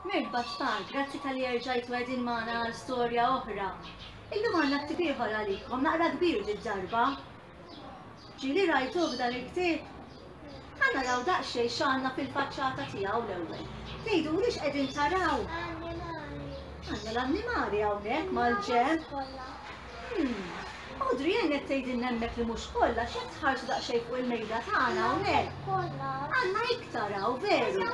Merħba tfal, grazzi talli erġajtu qegħdin magħna għal storja oħra. Illum għandna ktieb ieħor għalikom, naqra kbir ġid-darba. Ġieli rajtuh dan il-ktieb? Ħa naraw daqsxejn x'għandna fil-faċċata tiegħu l-ewwel. Tgħidu li x'qegħdin taraw? Għandna l-annimali hawnhekk mal-ġenb. Odri hmm. qed tgħidin hemmhekk li mhux kollha x'qed tħarsu daqsxejn fuq il-mejda tagħna hawnhekk. Għandna iktar hawn veru.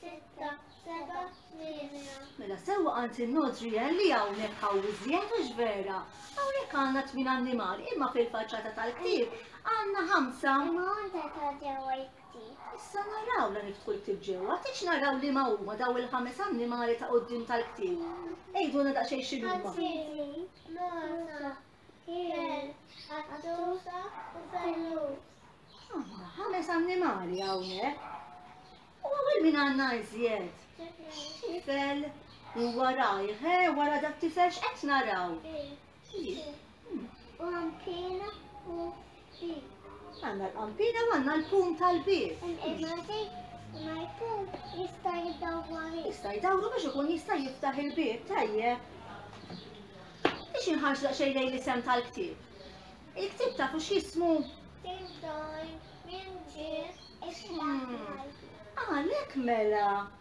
Sitta, seba, tmienja. Mela sewwa għand in-Nodriel li hawnhekk hawn iżjed mhux vera. Hawnhekk għandna tmien annimali imma fil-faċċata tal-ktieb għandna ħamsa. Imma għandha ta' ġewwa ktieb. Issa naraw la niftħu l-ktieb ġewwa, tix naraw li ma huma daw il-ħames annimali ta' qudiem tal-ktieb. Ejduna daqsxejn x'inhuma. Ħadd Ikel, għassusa u fellus. Għanna ħames annimali hawnhekk. U għawel min għanna iżjed. Tifel, u warajħ, eh, wara dat tifel x'qed naraw. U għampina u Xi. Għandna l-qampina u għandna l-pum tal-bieb. Ma jkun jista' jdawwar. Jista' jdawru biex ikun jista' jiftaħ il-bieb tajjeb. Biex inħarġ daqsxejn lejn l-isem tal-ktieb. Il-ktieb tafu x'jismu? Għalhekk mela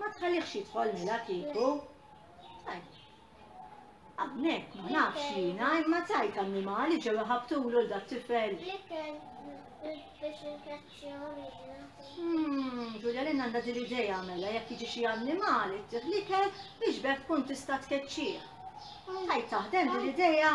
Ma tħallix jidħol mela kieku. Għabnek, ma nafx jina, imma tajt annimali ġew ħabtulu l-dat tifel. Hmm, Ġulja l għandha din l-idea mela jekk jiġi xi annimali t-tiħlikel biex bekk tkun tista' tkeċċih. Tajt taħdem din l-idea.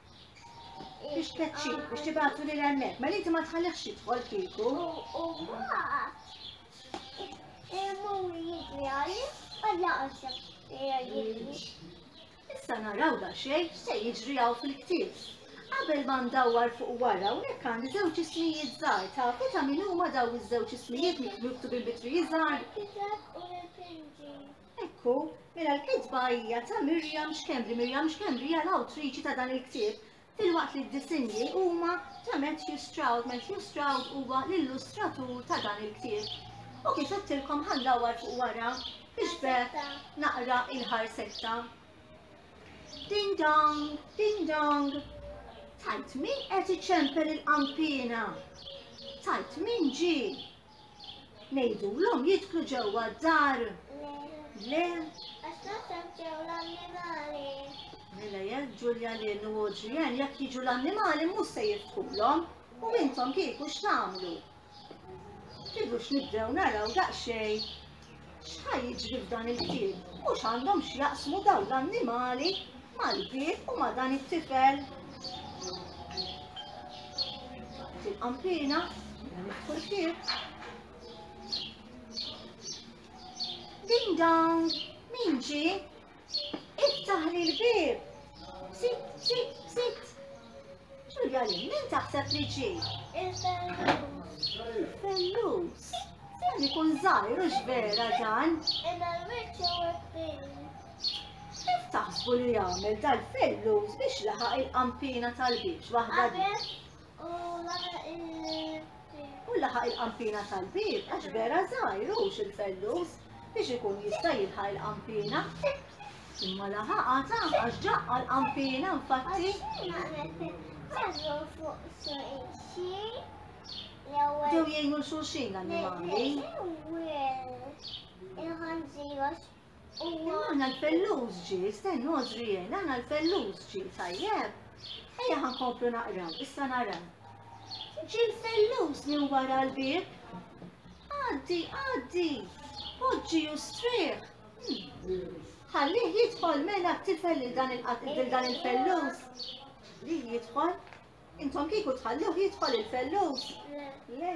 Biex tkeċċi, biex tibgħatu lil hemmhekk, ma mela inti ma tħallihx jidħol kieku. U mbagħad imur jidri għalli għalla għażem jidri. Issa naraw da xejn se jiġri hawn fil-ktieb. Qabel ma ndawwar fuq wara hawnhekk għandi żewġ ismijiet żgħar tafu ta' min huma daw iż-żewġ ismijiet miktubin bitri żgħar. Hekk hu, mela l-kitba hija ta' Miriam Schembri. Miriam Schembri hija l-awtriċi ta' dan il-ktieb, filwaqt li d-disinji huma ta' Matthew Stroud. Matthew Stroud huwa l-illustratur ta' dan il-ktieb. U kif għedtilkom ħandawar fuq wara biex bekk naqra il-ħarsetta. Ding dong, ding dong. Tajt min qed iċempel il-qampina. Tajt min ġi. Ngħidulhom jidħlu ġewwa d-dar. Le. Għax naħseb ġew l-annimali. Mela jekk Ġulja Lin u Adrian jekk jiġu l-annimali mhux se jiftħulhom u intom kieku x'tagħmlu? Kieku x'nibdew naraw daqsxejn X'ħa jiġri f'dan il-ħin? Mhux għandhom x'jaqsmu dawn l-annimali mal-bieb u ma' dan it-tifel? Fil-qampina, fuq il-bieb. Ding dong, min ġie? Iftaħ li l-bib! Sit, sit, sit! Ġulja li min taħseb li ġi? Il-fellus. Il-fellus? Sen ikun zaħir u vera dan. Imma l-wiċċ u kbir. Kif taħsbu li jagħmel dal-fellus biex laħaq il-qampina tal-biex waħda? U laħaq il-bib. U laħaq il-qampina tal-bib, għax vera zaħir, ux il-fellus, biex ikun jista jilħaq il-qampina. Imma laħaq għata, għax ġaqqa l-qampina, infatti. Ġew jgħinu l-xulxin l-animali. Imma aħna l-fellus ġie, stennu Għożrijel, aħna l-fellus ġie, tajjeb? Ejja ħa nkomplu naqraw, issa naraw. Ġie l-fellus minn wara l-bieb. Għaddi, għaddi, poġġi u strieħ. Hmm. Ħallih jidħol mela t-tifel lil dan il-fellus. Li jidħol? Intom kieku tħalluh jidħol il-fellus? Le.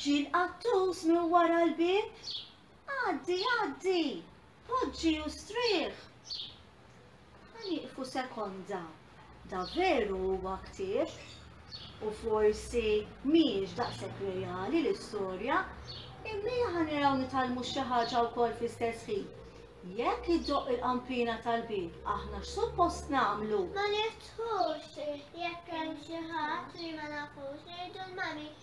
Ġie l-qattus minn wara l-bieb, Għaddi, għaddi, poġġi u strieħ. Ma nieqfu sekonda, da veru huwa ktieb, u forsi mhijiex daqshekk reali l-istorja, imma jaħa niraw nitalmu xi ħaġa wkoll fl-istess ħin. Jekk iddoqq il-qampina tal-bieb, aħna x'suppost nagħmlu? Ma niftħux, jekk hemm xi ħadd li ma nafux, ngħidu l-mami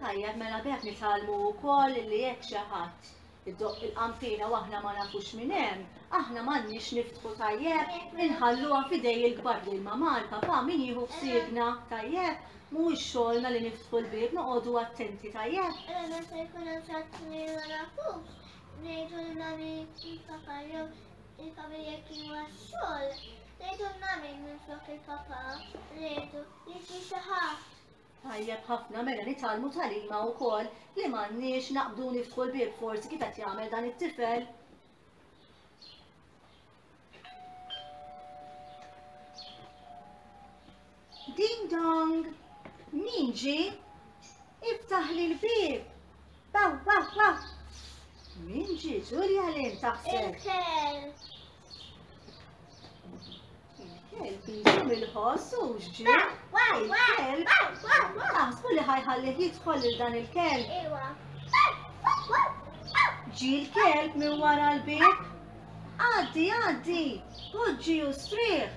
Tajjeb, mela b'hekk nitgħallmu wkoll li jekk xi ħadd iddoqq il-qanfina u aħna ma nafux minn hemm, aħna m'għandniex niftħu tajjeb, inħalluha f'idej il-kbar lil mamar, papà min jieħu ħsiebna, tajjeb? Mhuwiex xogħolna li niftħu l-bieb, noqogħdu attenti, tajjeb? Imma meta jkun hemm xi ħadd li ma nafux, ngħidu lil mami kif papà jew il-familja kien huwa x-xogħol, ngħidu lil mami minflok il-papà, ngħidu li xi xi ħadd. Tajjeb ħafna, mela nitgħallmu tagħlima wkoll li m'għandniex naqbdu u niftħu l-bieb forsi kif qed jagħmel dan it-tifel. Ding dong! Min ġi? Iftaħ li l-bib! Baw, baw, baw! Min ġi, Ġulja li ntaħseb? Il-kelb jidum il-ħoss u xġir. Il-kelb. Taħsbu li ħajħalli jidħol il dan il-kelb. Ġi l-kelb minn wara l-bib. Għaddi, għaddi, poġġi u strieħ.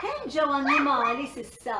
Kemm ġew annimali sissa?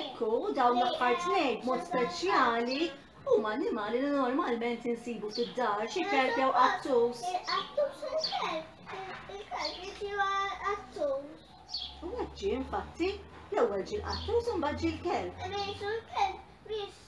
Ekku, dawn l-aħħar tnejn mod speċjali huma annimali li normalment insibu fid-dar, xi kelb jew qattus. Il-qattus u l-kelb. Il-kelb jiġi qattus. U għadġi, infatti, l-ewwel ġi l-qattus u mbagħad ġi l-kelb. Imma jiġu l-kelb biex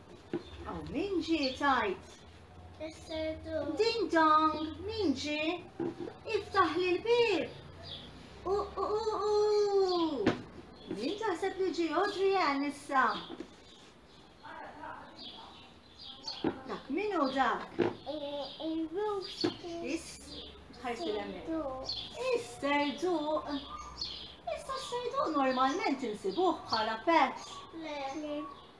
Aw min ġi tajt? Ding dong, min ġi? Iftaħ li l-bib. U u u u. Min taħseb li ġi Audrey Ann issa? Dak min u dak? Is, ħajsi l-emmek. Is-serduq. Issa s-serduq normalment insibuh bħala pet.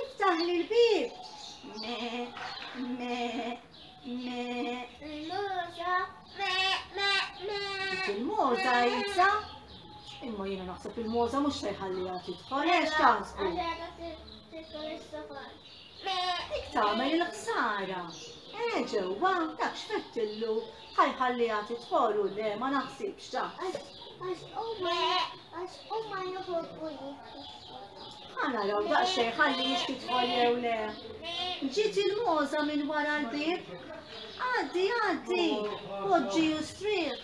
Iftaħli l-bieb! Me, me, me. Il-muża, me, me, me. Il-muża jisa. Imma jiena naħseb il-muża mhux se jħalliha tidħol. Għax taħsbu. Dik tagħmel il-ħsara. Eh ġewwa, dak x'fettillu ħajħalliha tidħol u le ma naħsibx ta. Għax huma għax huma joħolqu Għanaraw daqxej ħalli jistidħol jew le. Ġiet il-moza minn wara l-bib. Għaddi, għaddi, poġġi u strieħ.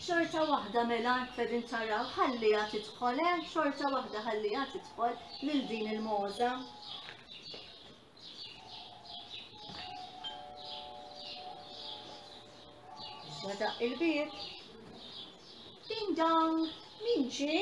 Xorta waħda mela fedin taraw ħalli għat idħol, eh? xorta waħda ħalli għat idħol lil din il-moza. Wadaq il-bib. Ding dong, min ġie?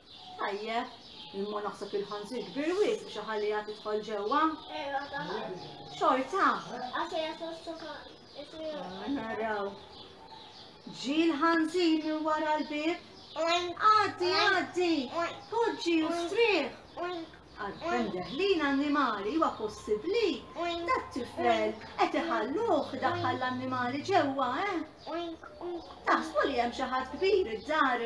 Tajjeb, imma naħseb il-ħanżir kbir wisq biex iħalliha tidħol ġewwa. Ewa, taħdem. Xorta. Għax hija sostoka. Naraw. Ġi l-ħanżir minn wara l-bib. Għaddi, għaddi. Poġġi u strieħ. Għalfem deħlin annimali huwa possibbli. Dat tifel qed iħalluh daħħal l-annimali ġewwa, eh? Taħsbu li hemm xi ħadd kbir id-dar.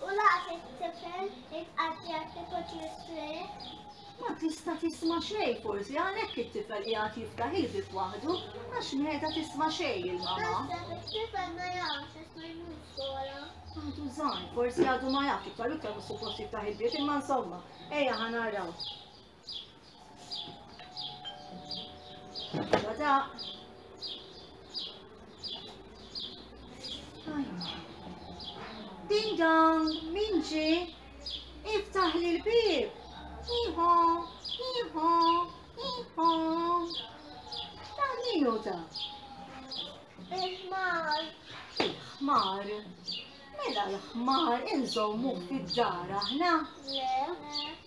U laqat it-tifel ittqattja kieku trisqliet. Ma tista' tisma' xejn forsi għalhekk it-tifel qiegħed jiftaħ il-bieb waħdu għax m'qiegħda tisma' xejn il-mama. Naħseb it-tifel ma jafx għax ma jmurx skola. Għadu żgħir, forsi għadu ma jafx iktar u iktar mhux suppost jiftaħ il-bieb imma insomma, ejja ħa naraw. Ding dong, min ġi? Iftaħ li l-bib. Iħo, iħo, iħo. Ta' minu ta'? Il-ħmar. Il-ħmar. Mela l-ħmar inżommu fid-dar aħna. Le.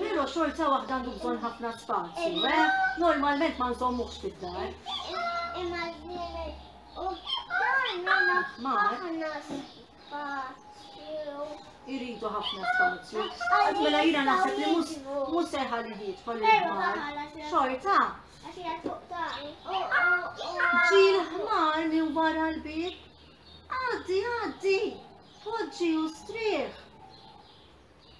Pero xorta waħda għandu bżon ħafna spazju, eh? Normalment ma nżommuħx fid-dar. Irridu ħafna spazju. Mela jina naħseb li mus seħal li jiet fal Xorta. Ġil ħmar minn wara l-bib. Għaddi, għaddi. Poġġi u striħ.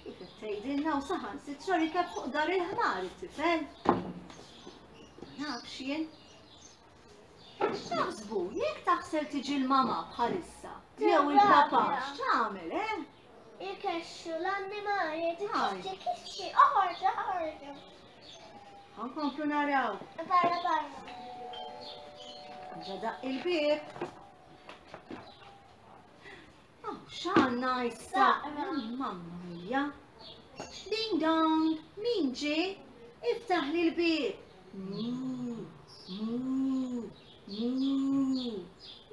Kif qed tgħidilna u saħansitra li kien fuq dar il-ħmar it-tifel. Ma nafx jien. X'taħsbu, jekk taħsel tiġi l-mama bħalissa, jew il-papa, x'tagħmel, eh? Ikexxu l-annimali, tikexxi, kixxi, oħorġu, oħorġu. Għankomplu naraw. Barra, barra. Ġadaq il-bib. Oh, x'għandna issa? Mamma mija. Ding dong, min ġi? Iftaħ li l-bib.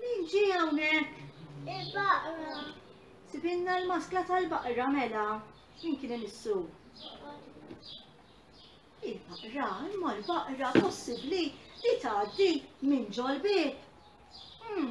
Min ġi hawnhekk? Il-baqra. Sibinna l-maskla tal-baqra mela. Min kien imissu? Il-baqra, imma l-baqra possibbli li tgħaddi minn ġol bib. Hmm.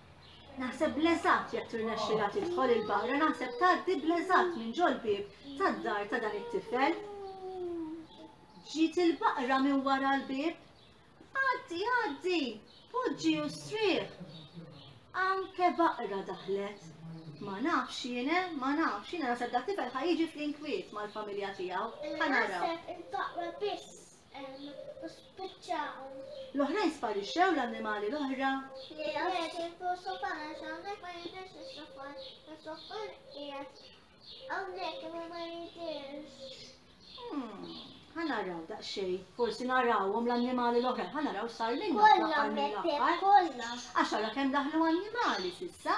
Naħseb l-eżatt jekk tirnexxilha tidħol il-barra naħseb tgħaddi bl-eżatt minn ġol-bieb tad-dar ta' dan it-tifel. Ġiet il-baqra minn wara l-bieb. Għaddi, għaddi, poġġi u strieħ. Anke baqra daħlet. Ma nafx jiena, ma nafx jiena naħseb dak tifel ħajġi fl-inkwiet mal-familja tiegħu. Ħanaraw. Naħseb il-baqra biss. u spiċċaw. L-oħrajn sparixxew l-annimali l-oħra. Li għaxin fuq sofan għax hawnhekk ma jidhirx is-sofan. Is-sofan qiegħed hawnhekk imma ma jidhirx. Hmm, ħa naraw daqsxejn, forsi narawhom l-annimali l-oħra, ħa naraw sar minn l-aħħar mill-aħħar. Għax ara kemm daħlu annimali s'issa.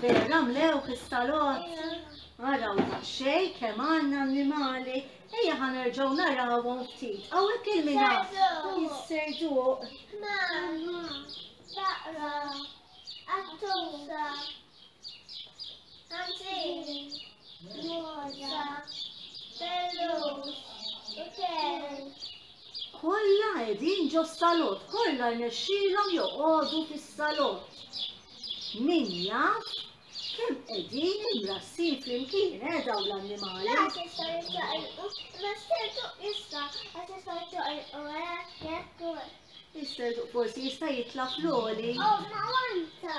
Vera namlewh is-salott. Araw daqsxejn kemm għandna annimali, ejja ħa nerġgħu narawhom ftit. Hawnhekk il-mina jisserduq. Mama, taqra, għattusa, għantin, moda, bellux, u Kollha qegħdin ġos-salott, kollha rnexxielhom joqogħdu fis-salott. Min jaf kemm qegħdin imrassin flimkien, eh, dawn l-annimali? Laqas jistgħu jiċċaqilqu, imma s-serduq jista' għax jistgħu jiċċaqilqu hekk jekk. Is-serduq forsi jista' jitla' fl-għoli. Oh, ma wanta!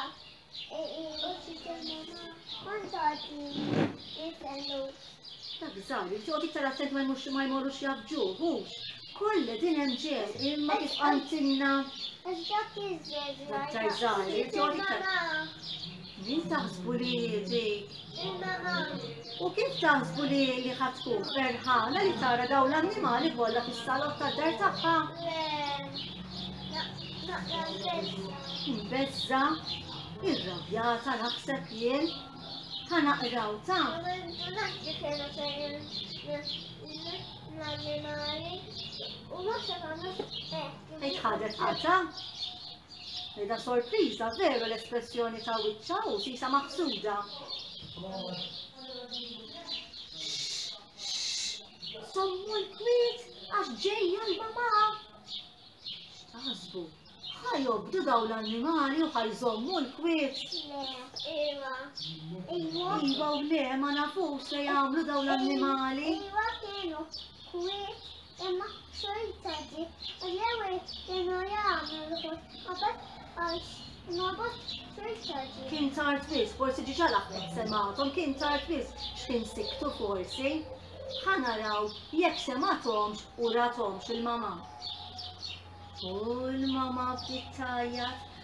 Dak żgħar, jixtiequ iktar attent ma jmux ma jmorrux jabġu, hux. Kollha din hemm ġew, imma kif qantilna. Dak iż-żgħar. Dak żgħar, jixtiequ iktar. Min taħsbu li dik? U kif taħsbu li li ħad tkun ferħana li tara dawn l-annimali kollha fis-salott tad-dar tagħha? Imbezza, irrabjata naħseb jien, ħa naqraw ta' l-annimali u ma xafamux Ejt ħadet qata? Rida sorpriża veru l-espressjoni ta' wiċċa u sisa maħsuda. Sommu l-kwiet għax ġejja l-mama. X'taħsbu? ħajobdu daw l-annimali u ħajżommu l-kwiet. Iva. Iva. Iva u le, ma nafux se jagħmlu daw l-annimali. Iva kienu kwiet. Imma xorta di l-ewwel kienu jagħmlu l-ħut qabad għax nobot xorta di. Kien tard wis, forsi diġà l-aħbeb semgħathom, kien tard wis x'kien siktu forsi. Ħa naraw jekk semgħathomx u rathomx il-mama. U l-mama bdiet tgħajjat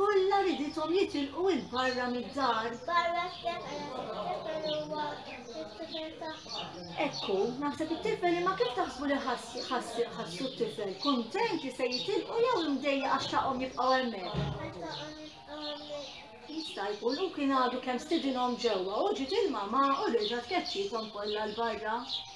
Kollha ridithom jitilqu 'il barra mid-dar. Barra x'jaf għala t-tifel huwa t-tifel tagħhom. Ekku, naħseb it-tifel imma kif taħsbu li ħassu t-tifel? Kuntent li se jitilqu jew imdejja għax taqhom jibqgħu hemmhekk? Jista' jkun u kien għadu kemm stidinhom ġewwa u ġiet il-mama u reġgħet keċċiethom kollha l-barra.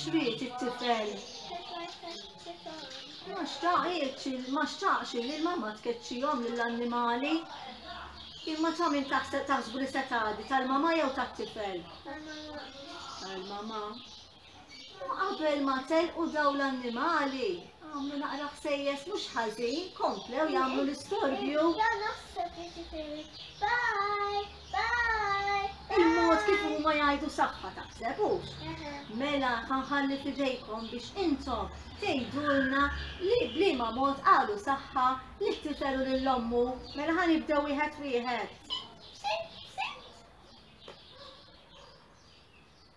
xriet it-tifel. Ma xtaqx, ma xtaqx li l-mamma tkeċċihom lill-annimali. Imma ta' min taħseb taħsbu li se tgħaddi tal-mama jew tat-tifel? Tal-mama. Imma qabel ma telqu dawn l-annimali, għamlu naqra ħsejjes mhux ħażin, komplew jagħmlu l-istorbju. Il-mod kif huma jgħidu saħħa taħseb hux. Mela ħanħalli fidejkom biex intom tgħidulna li bliema mod qalu saħħa li tifel u lil ommu. Mela ħanibdew wieħed wieħed.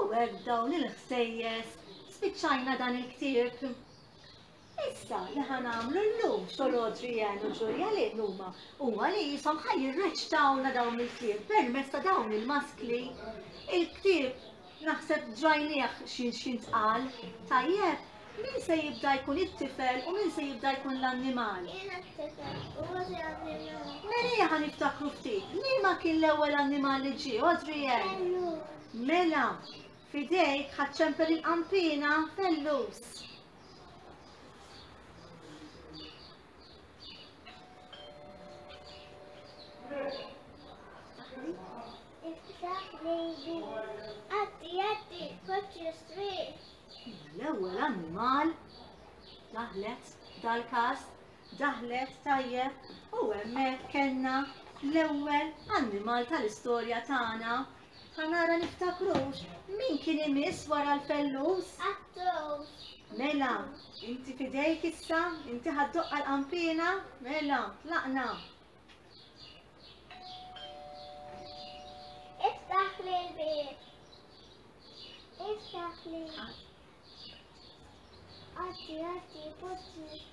U hekk dawn il-ħsejjes spiċċajna dan il-ktieb. Issa li ħanamlu l-lum xolodri jen u ġurja li numa u għali jisom ħaj jirreċtawna dawn il-ktieb permess ta' dawn il-maskli il-ktieb Naħseb drajnieh x'intqal, tajjeb? Min se jibda jkun it-tifel u min se jibda jkun l-annimal? Jiena t-tifel, huwa ġie annimal. Mela ħa niftakru ftit, liema kien l-ewwel annimal li ġie, Adrian? Fellus. Mela, fidejk ħadd ċempel il-qampina, fellus. L-ewwel annimal daħlet dal-każ daħlet tajjeb u hemmhekk kellna l-ewwel annimal tal-istorja tagħna Ħa nara niftakrux min kien imiss wara l-fellus? Għat-towż. Mela, inti f'idejk issa, inti ħa ddoqqa l-qanpiena? Mela, tlaqna. Iftaħ li l-bieb. Iftaħ li. Għaddi, għaddi, poġġi.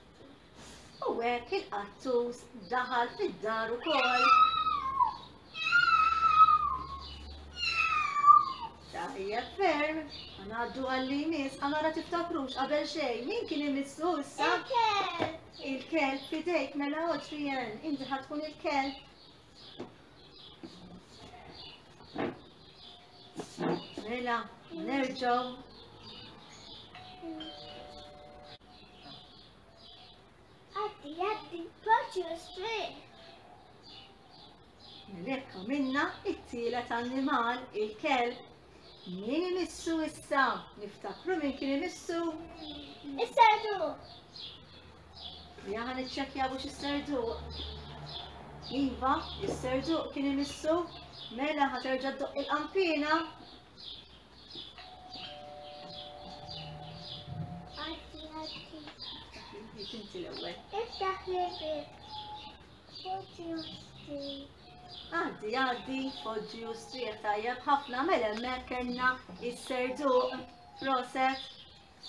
U hekk il-qattus daħal fid-dar ukoll. Tajjeb ferm, għanaddu għalli jmiss, għamara tiftakrux qabel xejn, min kien imissu issa? Il-kelb fidejk mela otrijen, inti ħatkun il-kelb. Mela, nerġaw Għaddi, għaddi, paċi u strieħ. Lekk minna it-tielet annimal, il-kelb. Min imissu issa? Niftakru min kien imissu? Is-sardu. Jaħan iċċekja biex is-sardu. Iva, is-sardu kien imissu. Mela ħaterġa d-doq il-qampina. Għaddi, għaddi, foġġi u strieħ tajjeb ħafna mela hemmhekk kellna is-serduq proset.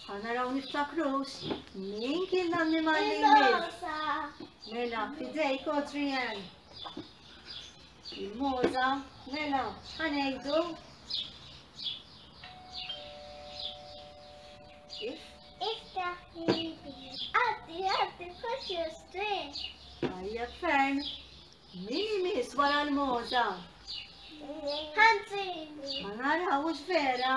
Ħa naraw niftakrux min kien l-annimal li jmiss. Mela, fidejk Adrian. Il-moza, mela, ħanejdu. Iftaħ il-bir. Għaddi, għaddi, push your string. Għajja ferm. Min imis wara l-moza? Ħanzi. Għanara, ux vera.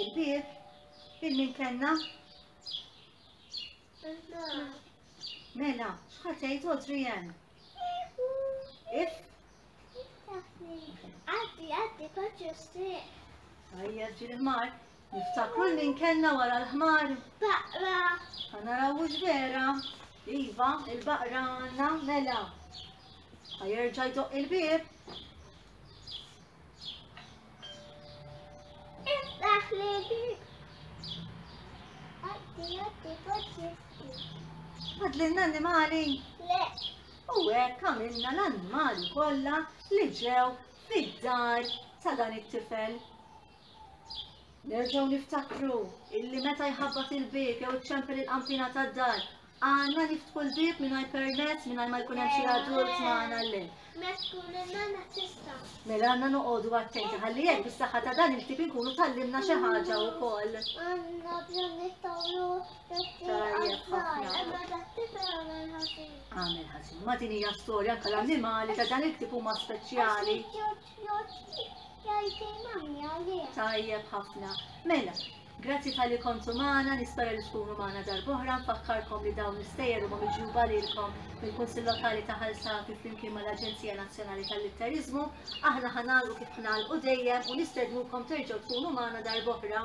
Il-bib, il-min kellna? Mela, xħatejt odri jen? If? Għaddi, għaddi, paċu striq. Għajja ġil mar niftakru l-min kellna wara l-ħmar. Baqra. Għana rawux vera. Iva, il-baqra għanna mela. Għajerġa jdoq il-bib. Għadlinna animali? Le. U hekk għamilna l-annimali kollha li ġew fid-dar ta' dan it-tifel. Nerġgħu niftakru illi meta jħabbat il-bieb jew iċċempel il-qanpina tad-dar, għandna niftħu l-bieb mingħajr permezz mingħajr ma jkun hemm xi adult magħna llin. Mela għandna noqogħdu attenti ħalli hekk bis-saħħa ta' dan il-ktieb inkunu tallimna xi ħaġa wkoll. Għandna bżonn nittawlu Tajjeb ħafna. Għamel ħażin. Ma din hija storja anke l-annimali ta' dan il-ktieb huma speċjali. Tajjeb ħafna. Mela, grazzi tal-li kontu maħna, nispera li tkunu maħna darbohra, nfakkarkom li dawn l-istejjer huma miġuba lilkom mill-Kunsil Lokali ta' Ħalsati flimkien mal-Aġenzija Nazzjonali tal-Litterizmu. Aħna ħanal u kif ħnal u dejjem u nistednukom terġgħu tkunu maħna darbohra.